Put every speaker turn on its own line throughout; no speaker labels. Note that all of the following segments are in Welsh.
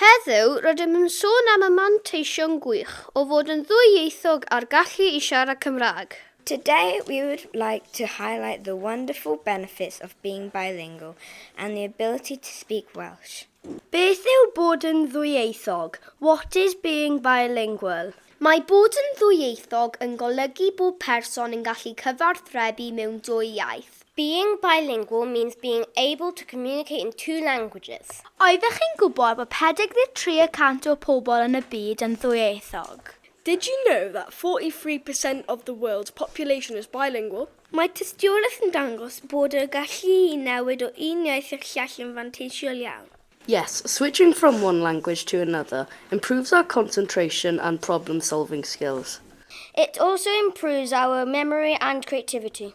Heddiw, rydym yn sôn am y manteision gwych o fod yn ddwyieithog a'r gallu i siarad Cymraeg. Today we
would like to highlight the wonderful benefits of being bilingual and the ability to speak Welsh. Beth yw
bod yn ddwyieithog? What is being bilingual? Mae bod yn ddwyieithog yn golygu bod person yn gallu cyfathrebu mewn dwy iaith. Being bilingual
means being able to communicate in two languages. Oeddech chi'n gwybod
bod 43 y cant o pobl yn y byd yn ddwyieithog? Did you know
that 43 per cent of the world's population is bilingual? Mae tystiolaeth
yn dangos bod y gallu i newid o un iaith i'r llall yn fanteisiol iawn. Yes, switching
from one language to another improves our concentration and problem solving skills. It also
improves our memory and creativity.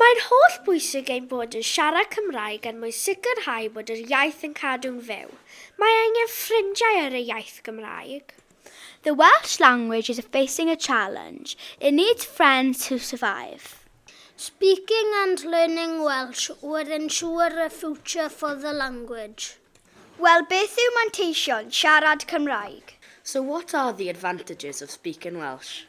Mae'n
holl bwysig ein bod yn siarad Cymraeg er mwyn sicrhau bod yr iaith yn cadw'n fyw. Mae angen ffrindiau ar y iaith Gymraeg. The Welsh language is facing a challenge, it needs friends to survive. Speaking
and learning Welsh would ensure a future for the language. Wel,
beth yw manteision siarad Cymraeg? So what are
the advantages of speaking Welsh?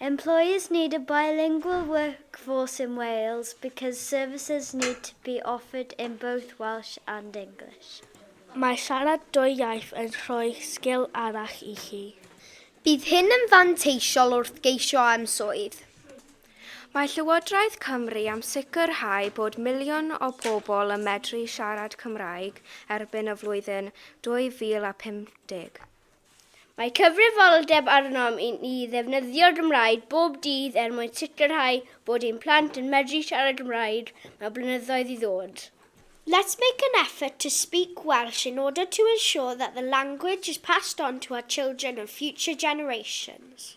Employers need a bilingual workforce in Wales because services need to be offered in both Welsh and English. Mae siarad
dwy iaith yn rhoi sgil arall i chi. Bydd hyn
yn fanteisiol wrth geisio am swydd.
Mae Llywodraeth Cymru am sicrhau bod miliwn o bobl yn medru siarad Cymraeg erbyn y flwyddyn 2050.
Mae cyfrifoldeb arnom i ni ddefnyddio'r Gymraeg bob dydd er mwyn sicrhau bod ein plant yn medru siarad Cymraeg mewn blynyddoedd i ddod. Let's make
an effort to speak Welsh in order to ensure that the language is passed on to our children and future generations.